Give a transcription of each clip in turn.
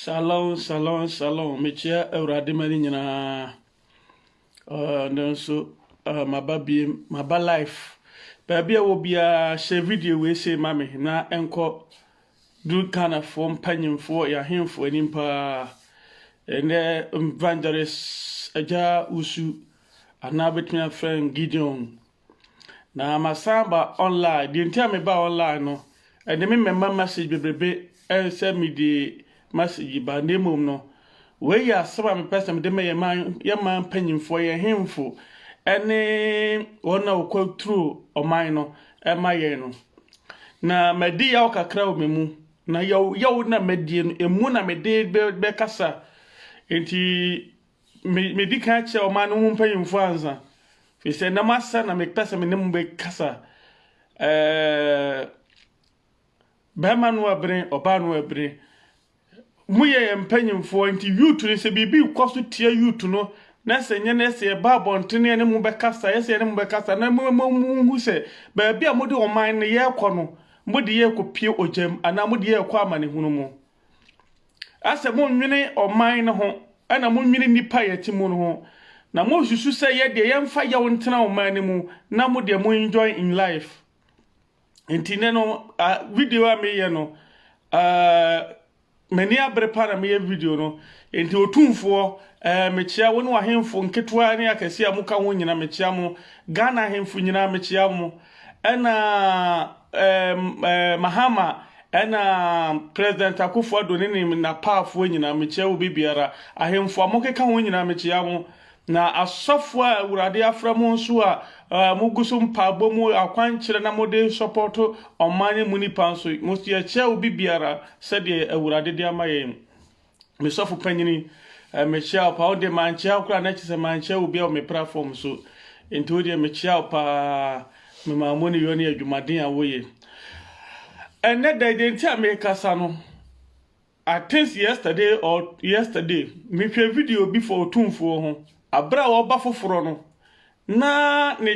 Shalom, shalom, shalom. Mekyia Awurade ma no nyinaa. Uh, nanso uh, maba biem, maba life. Baabi a wɔ biara hyɛ video wei sei ma me na ɛnkɔ Dur Ghanafoɔ mpanyimfoɔ yɛ ahenfoɔ anim paa. Ɛnnɛ Evangelist Agya Wusu anaa wobɛtumi afrɛ no Gideon. Na masan aba online. Deɛ nti a mebaa online no, ɛde me mɛma message bebrebe sɛ mede message yi ba, na mmom no, wei yɛ asɛm a mepɛ sɛ mede ma yɛn man, yɛn man mpanyimfoɔ, yɛn hemfo, ɛne wɔn a wɔkɔ turo ɔman no ɛma yɛn no. Na madi yaw kakra wɔ me mu, na yaw yaw na madie no, emu na mede bɛ bɛkasa. Enti me medi kan akyerɛ ɔman no ho mpanyimfoɔ ansa, firi sɛ nam asa na mepɛ sɛ me ne mo bɛkasa. Ɛɛ. Bɛɛma no abene, ɔbaa no abene. Mo yɛ yɛn mpanyinfoɔ nti youth no sɛ biribi rekɔ so tia youth no na sɛ nyɛ no ɛsɛ yɛba abɔntene yɛne mo bɛkasa yɛsɛ yɛne mo bɛkasa na mo mo monhu sɛ baabi a mode ɔman no yɛrekɔ no mode yɛrekɔpie ogyam anaa mode yɛrekɔ amanehunu mu. Asɛ monwene ɔman no ho ɛna monwene nnipa a yɛte mu no ho na monsusu sɛ yɛdeɛ yɛmfa yaw ntena ɔman no mu na modeɛ mo enjoy in life. nti ne no uh, video a meyɛ no uh, m'ani abere pa na meyɛ video no nti otumfoɔ uh, mekyia wo ne wahemfo nketewa ne akɛse a moka ho nyina mekyia mo ghana ahemfo nyinaa mekyia mo ɛna um, uh, mahama ɛna president akufo ado ne ne napaafoɔ nyinaa mekyia wo biribiara ahemfo a mokeka ho nyinaa mekyia mo Na asɔfo a Awurade afrɛ mo nso a mogu so mpaebɔ mu akwankyerɛ na mode sɔpɔɔto ɔman yi mu nnipa nso, yɛkyɛ obi biara sɛdeɛ Awurade de ama yɛn. Me sɔfo panyin, mekyea wo paa. Wo deɛ mankyea wo koraa na kyerɛ sɛ mankyea obi wɔ me platform so. Nti wo deɛ mekyea wo paa, me Mammoni yɔ ne adwumaden a woyɛ. Ɛnnɛ da yi deɛ nti a merekasa no, I thinks yesterday or yesterday me hwɛ video bi for otumfoɔ ho abere a ɔba foforɔ no na ne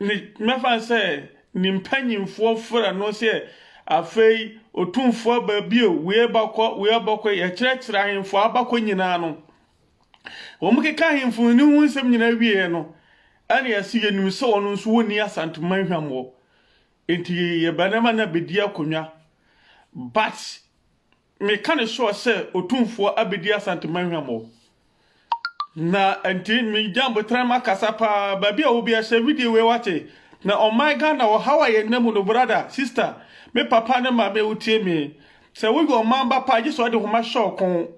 ne mɛfa no sɛ ne mpanyinfoɔ frɛ no sɛ afei otumfoɔ aba bio wei abakɔ wei abakɔ yɛkyerɛkyerɛ ahemfo abakɔ nyinaa no wɔn keka ahemfo ne ho nsɛm nyinaa wieɛ no ɛne ɛsɛ yɛnim sɛ wɔn nso wɔnni asanteman hwammɔ Nti yɛbɛ nɛma no abɛdi akonwa but me ka no sure sɛ otumfoɔ abɛdi Asante Manhwa mo na nti me Jambo tram akasa paa baabi a ɔwɔbiara hyɛ video wei wate na ɔman Ghana ɔhaw a yɛnna mu no brother sister me papa ne maame a wotie me sɛ woyɛ ɔman ba paa gye sɛ ɔde homa hyɛ ɔkɔn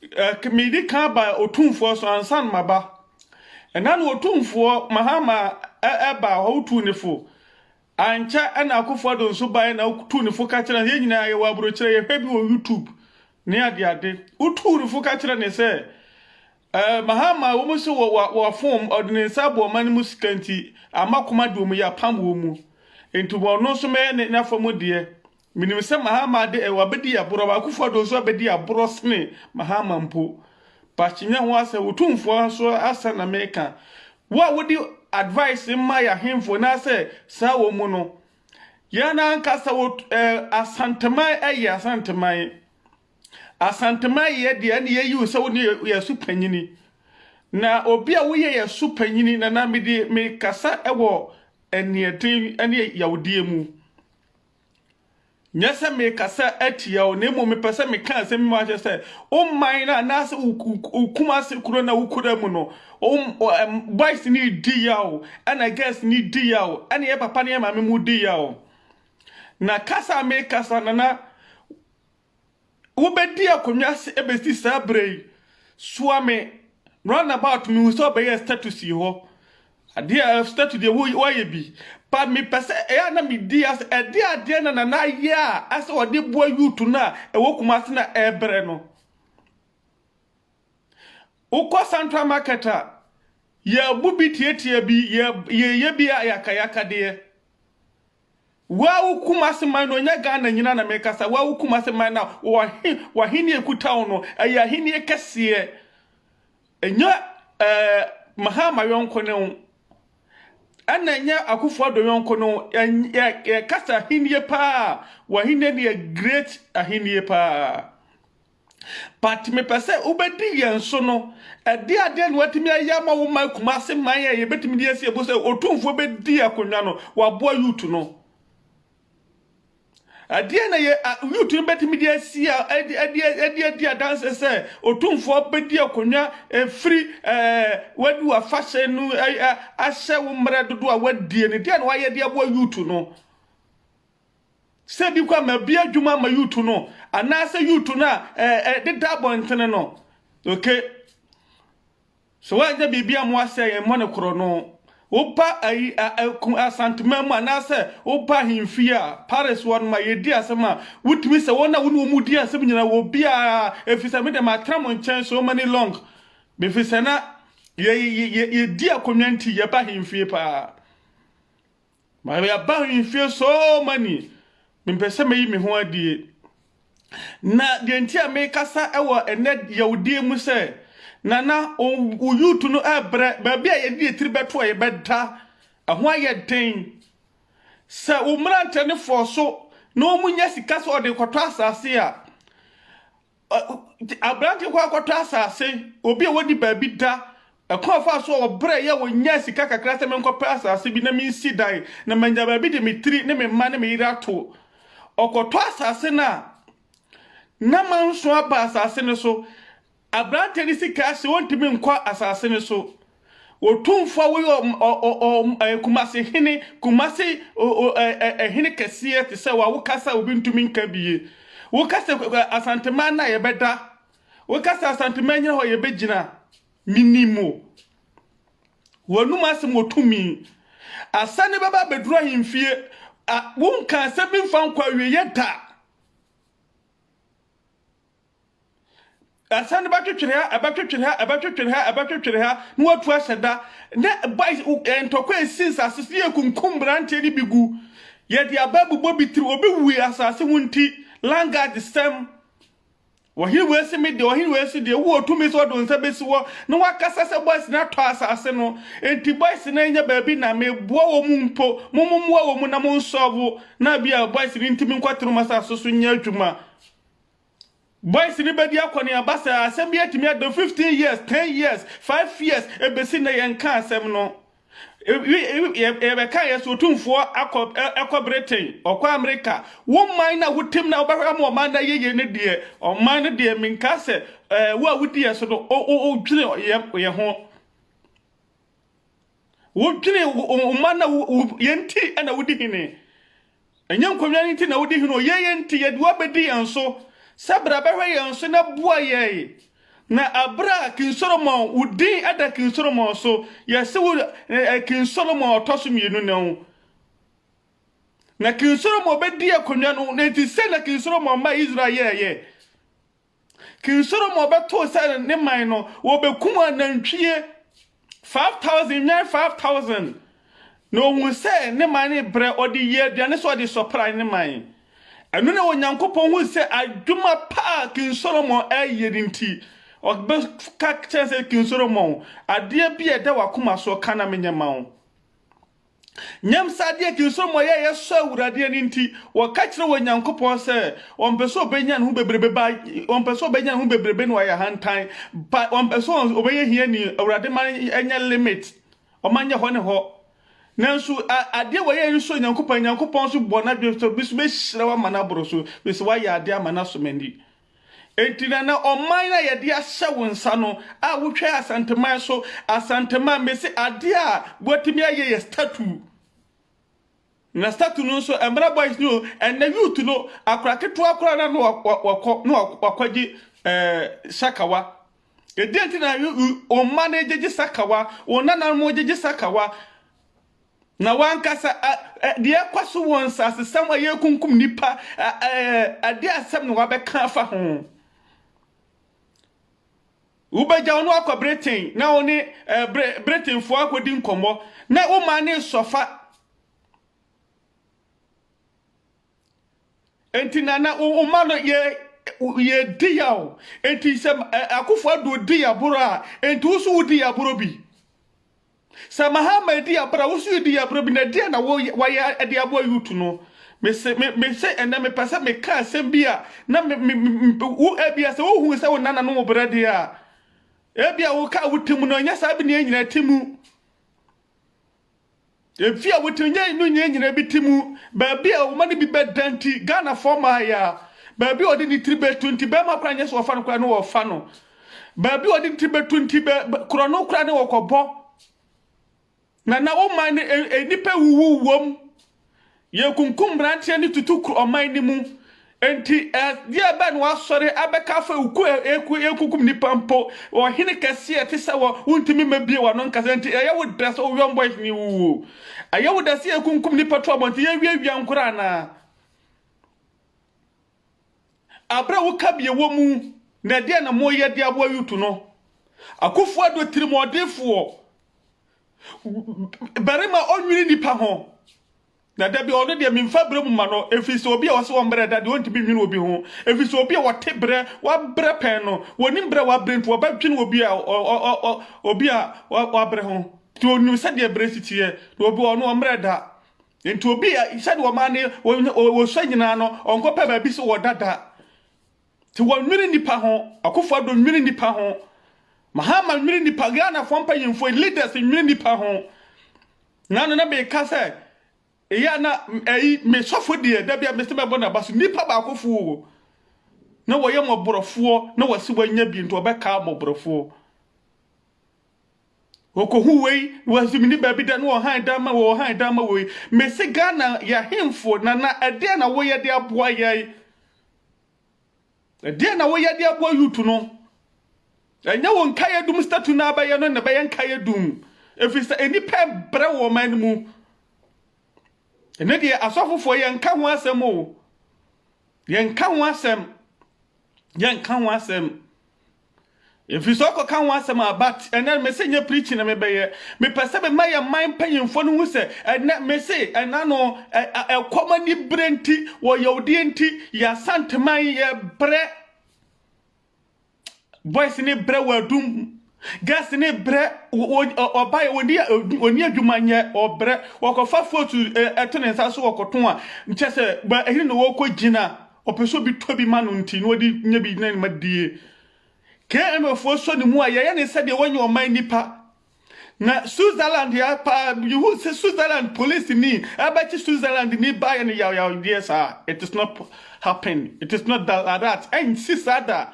Eh, medi kan ba Otumfoɔ so ansa na maba. Ɛna na Otumfoɔ Mahama ɛba hɔ wotu ne fo. Ankyɛ ɛna Akufo Addo nso baeɛ na wotu ne fo ka kyerɛ no yɛn nyinaa yɛwɔ aburokyerɛ yɛhwɛ bi wɔ YouTube ne adeade. Wotu ne fo ka kyerɛ ne sɛ eh, Mahama wɔn sɛ wɔafom ɔde ne nsa abɔ ɔman no mu sika nti ama koma de wɔn yɛ apam wɔn mu. Nti wɔn nso mɛyɛ ne n'afa mu deɛ. Menim sɛ Mahama de ɛ, wabɛdi aborɔ, ma Akuffo Addo nso abɛdi aborɔ sene Mahama mpo. But Kyinenyɛ ho asɛm, wo tumfoɔ nso asɛm na meka. Wo a wode advice ma yɛ ahemfo anaasɛ saa wɔ mu no, yɛn ankasa wɔ ɛ, Asanteman yɛ Asanteman. Asanteman yɛ deɛ ɛne yɛyi wo sɛ wo ne yɛ so panyini. Na obi a woyɛ yɛ so panyini, Nana mede mekasa wɔ aniɛden ne yawdeɛ mu. Nyɛ sɛ merekasa atia wo, na mmom mepɛ sɛ meka asɛm bi ma akyerɛ sɛ wo man no anaasɛ wo Kumase kuro na wokura mu no, boys no redi yaw, ɛna girls no redi yaw, ɛna yɛ papa ne yɛ maame mu redi yaw. Na kasa a merekasa no na Wobɛdi akonnwa ase ɛbɛsi saa berɛ yi. Soa me round about mehu sɛ ɔbɛyɛ status yi hɔ adeɛ a status deɛ wo wayɛ bi but mepɛ sɛ ɛyɛ a na medi ase ɛde adeɛ na nana ayɛ a asɛ ɔde boa youth no a ɛwɔ Kumasi na ɛbrɛ no wokɔ central market a yɛbu bi tietia bi yɛ yɛyɛ bi a yɛaka yɛaka deɛ Wawu Kumase man no, ɛnyɛ Ghana nyinaa na mekasa, wawu Kumase man no a, wɔhe, w'ahenni a ɛkuta wo no, ɛyɛ ahenni kɛseɛ. Ɛnyɛ ɛɛ Mahama yɔnko no, ɛna ɛnyɛ Akufo Addo yɔnko no, yɛ, yɛkasa ahenni paa, w'ahenni no yɛ great ahenni paa. but mepɛ sɛ wobɛdi yɛn so no, ɛdeɛ adeɛ na watumi ayɛ ama wo ma Kumase man a yɛbɛtumi de asi abo sɛ otumfoɔ bɛdi akonnwa no, waboa youth no. Ɛdeɛ na yɛ youth no bɛtumi de asi ɛde adi adanse sɛ otumfoɔ bɛdi akonnwa ɛfiri wadu afahyɛ no ahyɛ wo mmerɛ dodo a wadie no, deɛ na wayɛ de aboa youth no. Sɛ bi kɔ ma bi adwuma ma yutu no anaasɛ yutu no a ɛdeda abɔntene no. Oke. Sɛ woanyɛ biribi a mmoa sɛ yɛmmɔ no korɔ no, woba ayi asantema mu anaasɛ woba ahemfie a, Paris wɔ no ma yɛdi asɛm a, wotumi sɛ wɔn a wo ne wɔn di asɛm nyinaa wɔ biara ɛfiri sɛ me deɛ matena mo nkyɛn so many long. Bɛfiri sɛ na yɛdi akonnwa nti yɛba ahemfie paa. Ma me aba ahemfie so many mepɛ sɛ meyi me ho adie na deɛ nti a mekasa wɔ ɛnɛ yawdie mu sɛ nana wo youth no ɛbrɛ baabi a yɛde yɛtiri bɛto a yɛbɛda ɛho ayɛ den sɛ wo mmerantɛ no fɔɔ so na wɔn nyɛ sika sɛ ɔde kɔtɔ asase a Aberante kɔ akɔtɔ asase, obi a wadi baabi da, ɛkwan ɔfaa so a ɔbrɛ yɛ ɔnyaa sika kakra sɛ menkɔpɛ asase bi na mensi dan na manya baabi de me tiri ne me mma ne me yere ato. Ɔkɔtɔ asase no a, na manso aba asase no so. Aberante no sika ahyɛ, ɔntumi nkɔ asase no so. Otumfoɔ a woyɛ Kumasi hene, Kumasi hene kɛseɛ te sɛ wa, woka sɛ obi ntumi nka bi ye. Woka sɛ Asanteman na yɛbɛda, woka sɛ Asanteman nyina hɔ yɛbɛgyina. Menim mo. W'anum asɛm wɔ tumi. Asane bɛba abɛduru ahemfie. Wonka asɛm bi mfa nkɔ awieɛ da. Ɛsɛn no bɛtwetwere ha, ɛbɛtwetwere ha, ɛbɛtwetwere ha, ɛbɛtwetwere ha, na watu ahyɛ da. Na boys eh, ntɔkwa esi nsase so, yɛ kunkum mmeranteɛ no bi gu. Yɛde aba abobɔ bi tiri, obi wui asase ho nti, langard sɛm. Ɔhene wei si me deɛ, ɔhene wei si deɛ, wowɔ tumi sɛ ɔde nsa bɛsi hɔ, na wakasa sɛ boys no atɔ asase no. Enti boys no anya baabi na meboa wɔ mu mpo, mo mommoa wɔ mu na monsɔɔvo, na bi a boys no ntumi nkɔtena wɔn asase so nyɛ adwuma. Boys no bɛdi akɔneaba sɛ asɛm bi atumi adɔ 15 years, 10 years, 5 years, ɛbɛsi nnɛ yɛnka asɛm no. Yɛbɛka yɛ so otumfoɔ akɔ ɛkɔ Britain, ɔkɔ Amerika. Wo man na wotim na wobɛhwɛ ama ɔman no ayɛ yie no deɛ, ɔman no deɛ menka sɛ wo a wodi yɛ so no wodwene yɛ ho. wodwene wo mma na yɛn nti na wodi hene ɛnyɛ nkonnwa no nti na wodi hene o yɛn yɛn nti yɛde wabɛdi yɛn so sɛ bra bɛhwɛ yɛn so na boa yɛn na abira king solomon wo din ɛda king solomon so yɛse wo king solomon ɔtɔ so mmienu na wo na king solomon bɛdi akonnwa no na nti sɛ na king solomon ma israel yɛɛyɛ King Solomon bɛtoo sɛ ne man no, wɔbɛkum anantwie 5,000, nnwan 5,000. Na ɔhu sɛ ne man no brɛ, ɔde yɛ aduane sɛ ɔde sɔpra ne man. Ɛno na Onyankopɔn hui sɛ adwuma pa a King Solomon ayɛ no nti, ɔbɛka kyerɛ sɛ, King Solomon, adeɛ bi a ɛda w'akoma soɔ, ka na menyɛ ma wo. Nyam saa adeɛ akyi nso mmɔeɛ a yɛsɔ Awurade ani nti, wɔka kyerɛ wɔ Nyankopɔn sɛ wɔmpɛ sɛ ɔbɛnya ne ho bebrebe ba wɔmpɛ sɛ ɔbɛnya ne ho bebrebe na wɔayɛ ahantan ba wɔmpɛ sɛ ɔbɛyɛ hiani Awurade ma ɛnyɛ limit ɔma nyɛ hɔ ne hɔ nanso adeɛ wɔyɛ yi nso Nyankopɔn Nyankopɔn nso bɔ n'adwene sɛ bi nso bɛhyira wo ama no aboro so bi sɛ woayɛ adeɛ ama no asomani Enti na na ɔman a yɛde ahyɛ wo nsa no a wotwae Asanteman so, Asanteman, mese adeɛ a wɔatumi ayɛ yɛ statue. Na statue no nso ɛmmra boys ni o, ɛnɛ youth no, akora ketewa koraa na na wa- wakɔ na wa- wakɔgye ɛɛ sakawa. Ɛdeɛ nti na yo- yo- wo mma no gyegye sakawa, wo nananom gyegye sakawa. Na w'ankasa ɛ, ɛ, deɛ ɛrekɔ so wɔ nsasesɛm a yɛrekunkum nnipa, ɛ, ɛ, ɛde asɛm na wabɛka afa ho. Wobɛgya wo no akɔ Britain na wo ne ɛ, Bri, Britainfoɔ akɔdi nkɔmmɔ na wo man ne sɔfa. Enti na na wo ma no yɛ yɛdi ya o. Enti sɛ ɛ, akofo ado di yaboro a, enti wo so wodi yaboro bi. Sɛ Mahama edi abere a wo nso di abere bi na deɛn na wayɛ de aboa youth no? Me se me me se ɛnɛ mepɛ sɛ meka asɛm bi a na me me me wo ebia sɛ wohu sɛ wo nana no wo brɛ deɛ a ebia woka wo ti mu no ɛnyɛ saa bi na ɛnyina ti mu efi a wotiri nyɛ no nyɛ nyina bi ti mu baabi a wɔma no bi bɛda nti Ghanafoɔ maa yɛ a baabi a ɔde ne tiri bɛtu nti bɛrima koraa nyɛ sɛ wɔfa no koraa no wɔfa no Baabi a ɔde nti bɛtu nti bɛ korɔ no koraa ne wɔkɔbɔ. Na na wo man no e, nnipa wuwu wom. Yɛkunkum mmeranteɛ ne tutu kuro ɔman no mu. Enti ɛdeɛ bɛn na wasɔre abɛka afei oku eku ekunkum nipa mpo ɔhene kɛseɛ te sɛ wɔ wontumi mmebie wano nkasa nti ɛyɛ wo dɛ sɛ woyɔn boys ne wuo ɛyɛ wo dɛ sɛ yɛkunkum nipa to abɔnten yɛwiawia nkora anaa Aber a wo kabea wɔ mu na ɛdeɛn na moreyɛ de aboa Yutu no? Akufo Addo tirimɔdenfoɔ barima a ɔnnwene nnipa ho. Na da bi ɔno deɛ memfa berɛ mu ma no ɛfiri sɛ obi a wɔse wɔmbrɛ da deɛ ɔntumi nwene obi ho ɛfiri sɛ obi a wɔte berɛ wabrɛ pɛn no wɔnim berɛ a wabrɛ nti wɔbɛdwene obi a obi a wabrɛ ho nti ɔnim sɛdeɛ berɛ si teɛ na obi ɔno ɔmbrɛ da Nti obi a sɛdeɛ ɔmaa ne wɔsua nyinaa no ɔnkɔpɛ baabi sɛ wɔdada nti wɔnwene nnipa ho akufo ado nwene nnipa ho mahama nwene nnipa ghanafoɔ mpanyimfoɔ leaders nwene nnipa ho na no na meka sɛ ɛyɛ na ɛyi mesɔfo deɛ da bia mese mɛbɔ n'aba so nnipa baakofoɔ na wɔyɛ mmɔborɔfoɔ na wɔse wɔanya bi nti wɔbɛka mmɔborɔfoɔ Okohu wei na wasi mini baabi da na ɔhan dan ma wei ɔhan dan ma wei. Mesi Ghana yɛhemfo nana ɛdeɛ na woyɛ de aboa yɛn? Ɛdeɛ na woyɛ de aboa youth no? Ɛnyɛ wo nkaeɛ dum statue na abɛyɛ no na ɛbɛyɛ nkaeɛ dum. Ɛfiri sɛ nnipa brɛ wɔ ɔman no mu. Ɛne deɛ asɔfofoɔ yɛnka ho asɛm o. Yɛnka ho asɛm. Yɛnka ho asɛm. Mfiriso kɔka ho asɛm a but ɛnɛ mese nyɛ preaching na mebɛyɛ. Mepɛ sɛ mema yɛn man mpanyimfoɔ no hu sɛ ɛnɛ mese ɛna no ɛ, ɛkɔm anibere nti, ɔyawdie nti, yɛn Asanteman yɛbrɛ. Boys ne brɛ wɔ adum, girls ne brɛ wɔ ɔba yɛ wɔni wɔni adwuma nyɛ ɔbrɛ wɔkɔfa fotu ɛto ne nsa so wɔkɔto a nkyɛ sɛ ɛhene na wɔkɔ gyina. Ɔpɛ sɛ obi tɔ bi ma no nti na ɔde nya bi na ne ma die. KMFoɔ sɔ ne mu a yɛyɛ ne sɛdeɛ wɔnyɛ ɔman nipa. Na Switzerland ya paa yehu sɛ Switzerland police ni ɛbɛkye Switzerland ni baayɛ no yawyaw deɛ saa it is not happen it is not that ɛnsi saa da.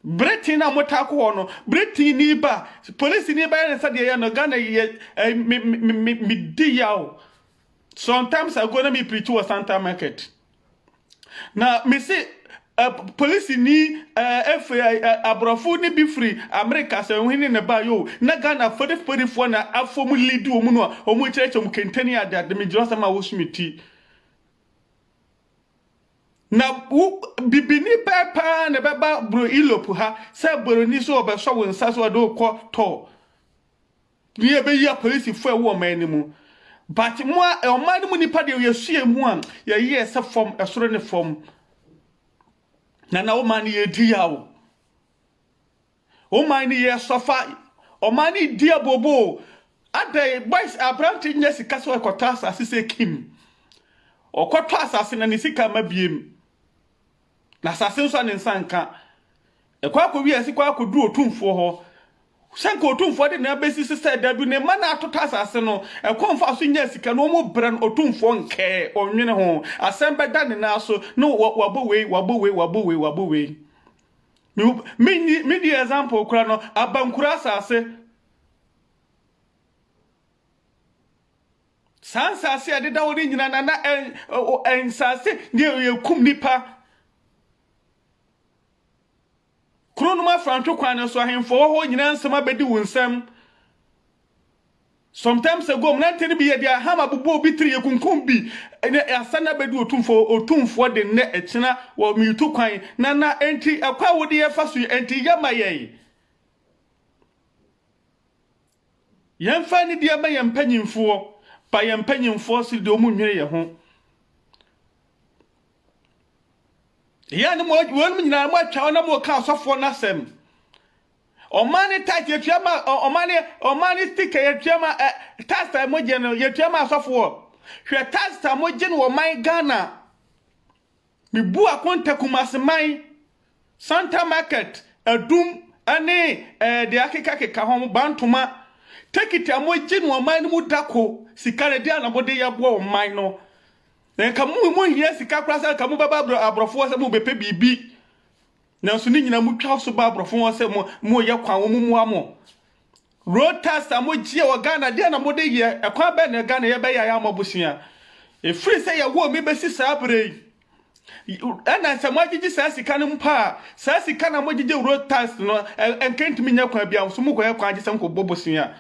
Bere tee no a motaa kɔ hɔ no, bere tee ni ba a, polisini bɛyɛ ne sɛdeɛ ɛyɛ no, Ghana yi yɛ, eh, me, me, me, me di yaw. Sometimes ago na me preach wɔ Santa Market. Na me se, eh, polisini, eh, efe, eh, eh, aborɔfo ne bi firi Amerika sɛ ɔhene na ɛbaa yo, na Ghana fodifodifoɔ na afɔ mu lead wɔn no a wɔn kyerɛkyerɛ mu kentani adeade, me gyerɛ asɛm a wɔsu me ti. Na wo bibini pɛɛ paa na ɛbɛba bro Europe ha sɛ boroni sɛ ɔbɛsɔ wo nsa sɛ ɔde wokɔ tɔ ne ɛbɛyi apolisifoɔ ɛwɔ ɔman no mu but mo a ɔman no mu nipa deɛ yɛsua mu a yɛyɛ sɛ fam ɛsoro ne fam na na ɔman no yɛdi yaw Wo man no yɛ sɔfa ɔman no di abooboo adɛn boys aberante nyɛ sika sɛ ɔkɔtɔ asase sɛ kim ɔkɔtɔ asase na ne sika ma biem na asase nso a ne nsa nka ɛkɔ akɔwie ɛse kɔ akɔduru otumfoɔ hɔ sɛ nka otumfoɔ de na abɛsi se sɛ da bi ne mma na atotɔ asase no ɛkɔ mfa so nya sika no ɔmo brɛ no otumfoɔ nkɛɛ ɔnwene ho asɛm bɛda ne nan so no wabɔ wei wabɔ wei wabɔ wei wabɔ wei Menni me di example kora no abankura asase. Saa nsase a ɛdeda hɔ no nyina na na nsase ne yɛkum nipa. Kuro no mu afrantwe kwan no so ahemfo wɔ hɔ nyina nsɛm abɛdi wo nsam. Sometimes ago mmerante no bi yɛ deɛ hammer bobɔ obi tiri yɛkunkum bi ne asan abɛdi otumfo otumfoɔ de nnɛ ɛkyena wɔ metu kwan na na enti ɛkwan wode yɛ fa so yi enti yɛ ma yɛn yɛn fa ne deɛ ma yɛn mpanyinfoɔ pa yɛn mpanyinfoɔ siri deɛ ɔmu nwene yɛ ho yɛ ne mo wɔn nyinaa mo atwa wɔn na mo ka asɔfoɔ n'asɛm Ɔmaa ne tithe yɛtua ma ɔmaa ne ɔmaa ne sticker yɛtua ma ɛ tax a mogye no yɛtua ma asɔfoɔ hwɛ tax a mogye no wɔ man Ghana mebu akonta Kumasi man Santa market Adum ɛne ɛɛ deɛ akeka keka ho Bantoma tekiti a mogye no ɔman no mu dako sika no deɛ na mode yɛboa ɔman no nka mo mo hia sika koraa sɛ nka mo bɛba aborɔfoɔ sɛ mo bɛpɛ biribi Nanso ne nyinaa mu twa so ba aborɔfo ho sɛ mo mo yɛ kwan wɔn mua mo. Road tax a mo gyeɛ wɔ Ghana deɛ na mo de yɛ ɛkwan bɛn na Ghana yɛ bɛyɛ ayɛ ama bosea. Efiri sɛ yɛ wɔ mi bɛsi saa bere yi. Ɛna sɛ mo agyegye saa sika no mpo a saa sika na mo gyegye road tax no ɛnka ntumi nyɛ kwan bia nso mo kɔ yɛ kwan agye sɛ mo kɔ bɔ bosea.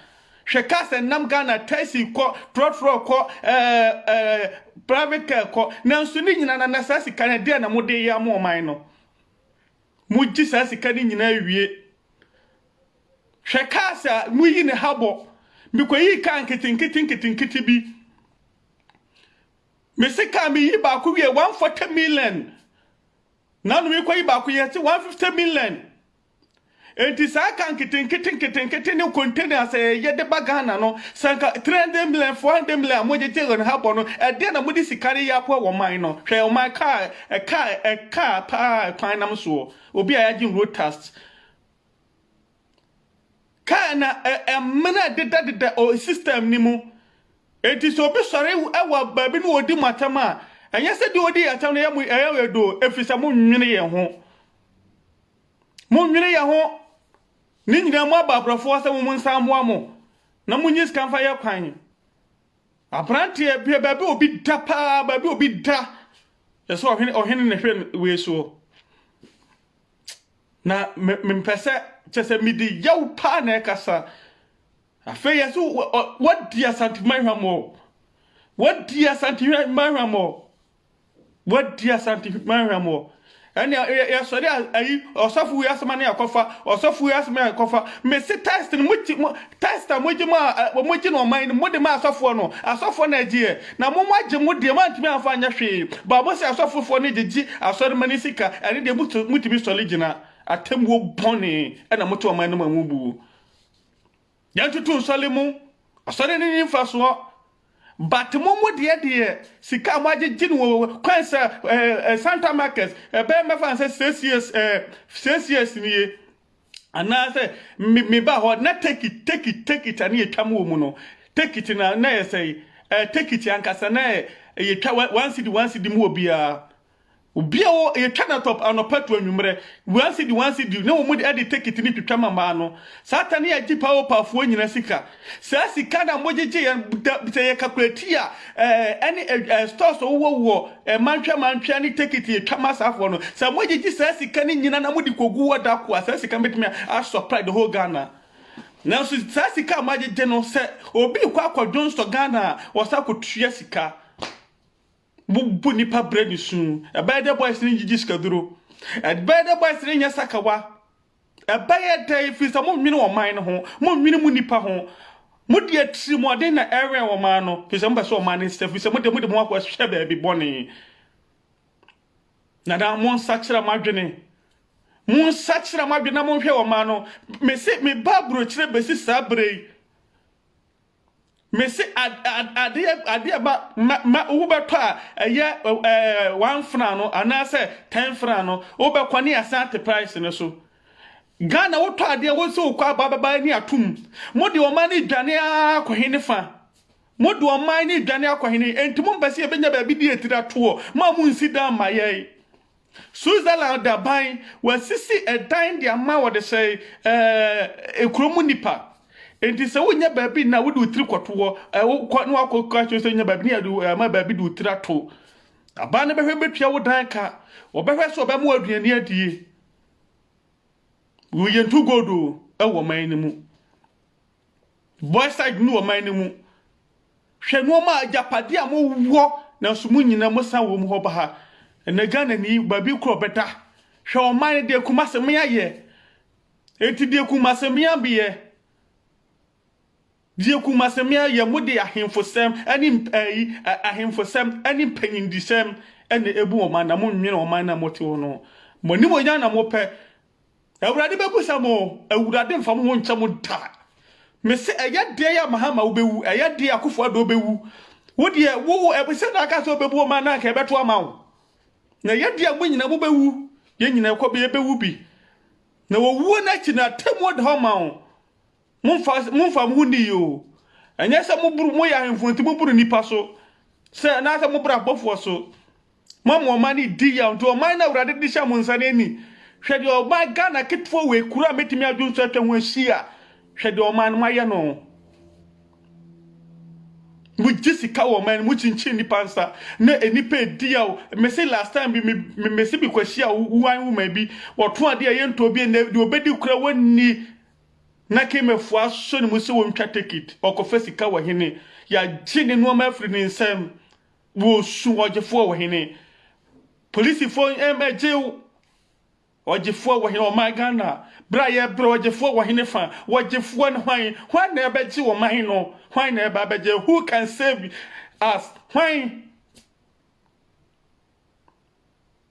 Hwɛ kaa sɛ nam Ghana taxi kɔ trɔtrɔ kɔ ɛɛ ɛɛ private car kɔ nanso ne nyinaa na na saa sika no deɛ na mo de yɛ ama ɔman no. Mogye saa sika no nyinaa wie. Hwɛ cars a moyi ne ha bɔ. Mekɔyii kaa nketenkete nketenkete bi. Mese kaa meyi baako wie 140 million. Nano mekɔyi baako yɛte 150 million. Enti saa car nketenkete nketenkete ne containers a yɛyɛ de ba Ghana no, sɛ anka 300 million, 400 million a mogyegye wɔn ha bɔ no, ɛdeɛn na mode sika no yɛ aboa wɔ ɔman no? Hwɛ ɔman car, car, car paa a kwan nam soɔ. Obi a yɛagye road tax. Car na ɛmena dedadeda system no mu. Enti sɛ obi sɔre wɔ baabi na ɔdi mo atɛm a, ɛnyɛ sɛ deɛ ɔdi yɛ atɛm no ɛyɛ mo ɛyɛ yɛ doo, ɛfiri sɛ monnwene yɛn ho. Monnwene yɛ ho. Ne nyinaa mu aba aborɔfoɔ sɛ wɔn nsa mmoa mo na monyi sika mfa yɛ kwan. Aberanteɛ bia baabi obi da paa baabi obi da yɛ sɛ ɔhene ɔhene ne hwɛ wei soɔ. Na mempɛ sɛ kyɛ sɛ mede yaw paa na ɛkasa. Afei yɛ sɛ wadi asantehwɛ hwammɔ. Wadi asantehwɛ hwammɔ. Wadi Asante man hwɛmɔ. Ɛnna yɛ yɛsɔre a ayi ɔsɔfo yi asɛm ne yɛkɔfa ɔsɔfo yi asɛm yɛkɔfa mesi test no mogye mo test a mogye mo a mogye no ɔman no mode ma asɔfoɔ no asɔfoɔ na agyeɛ na mo mo agye mo deɛ moantumi amfa anyɛ hwee baabo sɛ asɔfofoɔ no gyegye asɔrema ne sika ɛne deɛ motu motumi sɔre gyina atemmuo bɔne ɛna mote ɔman no ma mu buo Yɛntoto nsɔle mu, ɔsɔre no nni mfasoɔ. But mo mo deɛ deɛ sika a moagyegye no wɔ kwan sɛ eh, eh, Santa Market ɛbɛyɛ mɛfa no sɛ six years eh, six years nie anaasɛ me- meba hɔ na take it take it take it ane yɛtwa mu wɔ mu no take it na na yɛ sɛe eh, take it ankasa na yɛ- yɛtwa one city one city mu wɔ biara Obia wɔ yɛ twa na top anɔpa to anwummerɛ one cedi one cedi na wɔn de de tekiti ne twitwa ma maa no saa ta ne yɛgye paa opa foɔ nyina sika saa sika na mo gyegye yɛn da sɛ yɛ kakulati a ɛɛ ɛne ɛɛ stores ɔwɔ wɔ wɔ ɛɛ mantwea mantwea ne tekiti yɛ twa ma saa foɔ no sɛ mo gyegye saa sika ne nyina na mo de kogu wɔ da ko a saa sika bɛtumi a supply the whole Ghana nanso saa sika a mo agyegye no sɛ obi kɔ akɔdwonsɔ Ghana a wɔsa kɔtua sika. Wobu nnipa brɛ ne su. Ɛbɛyɛ dɛ boys no ngyigye sikaduro. Ɛbɛyɛ dɛ boys no nyɛ sakawa. Ɛbɛyɛ dɛ ɛfiri sɛ monnwene ɔman no ho, monnwene mo nnipa ho. Mode atirimuɔden na ɛrewɛn ɔman no, ɛfiri sɛ mopɛ sɛ ɔman no nsesa, ɛfiri sɛ mode mode mo akɔhyɛ baabi bɔne. Nana, monsakyera mo adwene. Monsakyera mo adwene na monhwɛ ɔman no. Mese meba aburokyire bɛsi saa berɛ yi. Mese adeɛ adeɛ ba ma ma wobɛtɔ a ɛyɛ ɛɛ one fran no anaasɛ ten fran no wobɛkɔ ne asante price no so Ghana wotɔ adeɛ wo sɛ wokɔ aba bɛba ani atom mo de ɔman no dwane ara kɔhe ne fa mo de ɔman no dwane akɔhe ne enti mo mpɛ sɛ yɛbɛnya baabi de atiri atoɔ mo a mo nsi dan ma yɛe Switzerland aban, wɔasisi dan de ama wɔde sɛ ɛɛ kuro mu nipa. Nti sɛ wonya baabi na wode wo tiri kɔto hɔ, wokɔ na wakɔ kɔ akyerɛ sɛ wonya baabi ne yɛde ama baabi de wo tiri ato. Aban no bɛhwɛ bɛtua wo dan ka. Wɔbɛhwɛ sɛ wɔbɛma aduane adie. Yɛntu gold o ɛwɔ ɔman no mu. Voicide ne ɔman no mu. Hwɛ nnoɔma a agyapadeɛ a mo wɔ nanso mo nyina mo san wɔ mu hɔ ba ha. Ɛnɛ Ghana ni baabi korɔ ɔbɛda. Hwɛ ɔman no deɛ Kumase mea yɛ. Enti deɛ Kumase mea beyɛ. Deɛ Kumase mea yɛ mo de ahenfosɛm ɛne ɛyi ahenfosɛm ɛne mpanyindisɛm ɛna ɛbu ɔman na mo nwene ɔman no a mo te hɔ no ho. Mo animuonyam na mo pɛ. Awurade bɛbisa mo, Awurade mfa mo ho nkyɛ mo da. Mese, ɛyɛ deɛ yɛ Mahama wobɛwu, ɛyɛ deɛ Akufo Addo bɛwu. Wo deɛ, wo ɛbisɛ na aka sɛ wobɛbu wɔn a na anka ɛbɛto ama wo. Na ɛyɛ deɛ mo nyina mobɛwu, yɛn nyina ɛkɔ bɛ yɛbɛwu bi. Na owuo no akyi no, atemmuo da hɔ ma wo. Mommfa mommfa mo ho nni yi oo. Ɛnyɛ sɛ moboro, moyɛ ahemfo nti moboro nnipa so, sɛ anaasɛ moboro abɔfoɔ so. Moama ɔman no redi yaw nti ɔman no a Awurade de hyɛ mo nsa no ani. Hwɛ deɛ ɔman Ghana ketewa wei, kuro a mɛtumi adwo nso atwa ho ahyia, hwɛ deɛ ɔman no moayɛ no. Mogye sika wɔ ɔman no, mokyinkyin nnipa nsa na nnipa redi yaw. Mese last time bi, me, me, mese mekɔhyia wo- wan woman bi, wɔto adeɛ a yɛntɔ bi, ɛnɛ deɛ ɔbɛdi kura wɔnni Na Kemefo asɔ ne mu sɛ wɔntwa tekit, ɔkɔfa sika wɔ hene, yɛagye ne nnoɔma afiri ne nsam, wɔsu ɔgyefoɔ wɔ hene, polisifoɔ mmɛgye ɔgyefoɔ wɔ hene, ɔman Ghana, berɛ a yɛbrɛ ɔgyefoɔ wɔ hene fa, ɔgyefoɔ ne hwan, hwan na ɛbɛgye ɔman no, hwan na ɛba bɛgye, who can save us, hwan?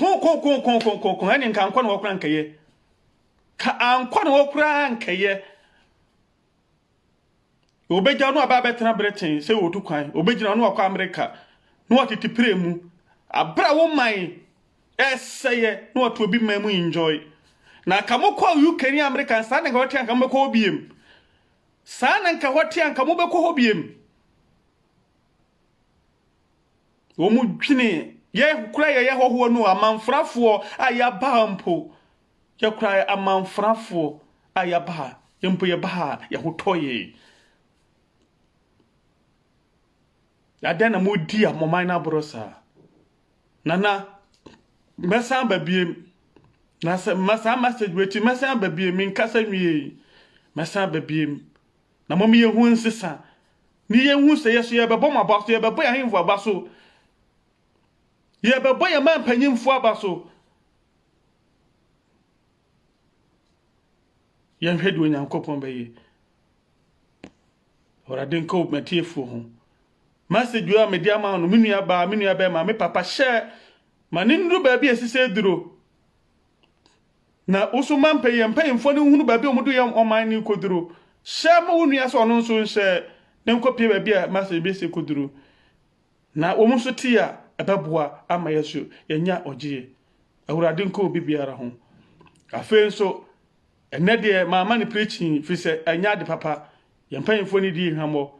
Kookookookookookoo ɛne nka ankɔ ne hɔ koraa nkɛyɛ. Ka ankɔ ne hɔ koraa nkɛyɛ. Obɛgya no aba abɛtena Britain sɛ wɔtu kwan. Obɛgyina no wakɔ Amerika. Na watete pire mu. Abere a wo man ɛsɛyɛ na watu obi man mu enjoy. Na ka mo kɔ UK ne Amerika saa na nka wɔte anka mobɛkɔ hɔ biem. Saa na nka hɔ te anka mobɛkɔ hɔ biem. wɔdwene yɛ kura yɛyɛ hɔhoɔ no amanfrafoɔ a yɛaba ha mpo yɛkura amanfrafoɔ a yɛaba ha yɛ mpo yɛba ha yɛhotɔ yɛ adɛn na modi a mɔman no aborɔ saa nana mɛsan ba biem na sɛ mɛsan message wɛti mɛsan ba biem menkasa nwie mɛsan ba biem na mɔmeyɛ ho nsesa Ne yɛnhu sɛ yɛ so yɛrebɛbɔ mo aba so, yɛrebɛbɔ yɛn ahemfo aba so, yɛrebɛbɔ yɛn man mpanyimfo aba so. Yɛnhwɛ deɛ Onyankopɔn bɛyɛ. Awurade nka wo matiefoɔ ho. Message a mede ama no, me nua baa, me nua bɛrima, me papa hyɛ ma ne nnuru baabi a ɛsɛ sɛ duro. Na wo nso ma mpanyɛ mpanyimfoɔ no nhunu baabi a wɔde yɛn ɔman no rekɔduru. Hyɛ ma wo nua sɛ ɔno nso nhyɛ na ɛnkɔpue baabi a ɛma sɛ yɛbɛsi akɔduru. Na wɔn nso tie a, ɛbɛboa ama yɛn nso yɛanya ɔgyeɛ. Awurade nka obi biara ho. Afei nso, ɛnnɛ deɛ mamma no preaching, ɛfiri sɛ ɛnyɛ ade papa. Yɛn mpanyimfoɔ no dii hwammɔ.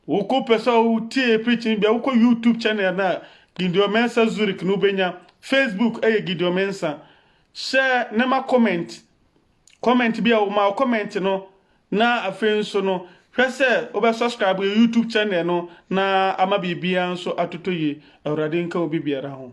Wo ko pɛ sɛ wo tie preaching bi a, wo kɔ YouTube channel no a, Gideon Mensah Zurich no wo bɛnya. Facebook ɛyɛ Gideon Mensah. Hyɛ ne ma comment, comment bi a wo ma wo comment no, na afei nso no, hwɛ sɛ wo bɛ subscribe yɛ YouTube channel no na ama biribiara nso atotɔ yie. Awurade nka obi biara ho.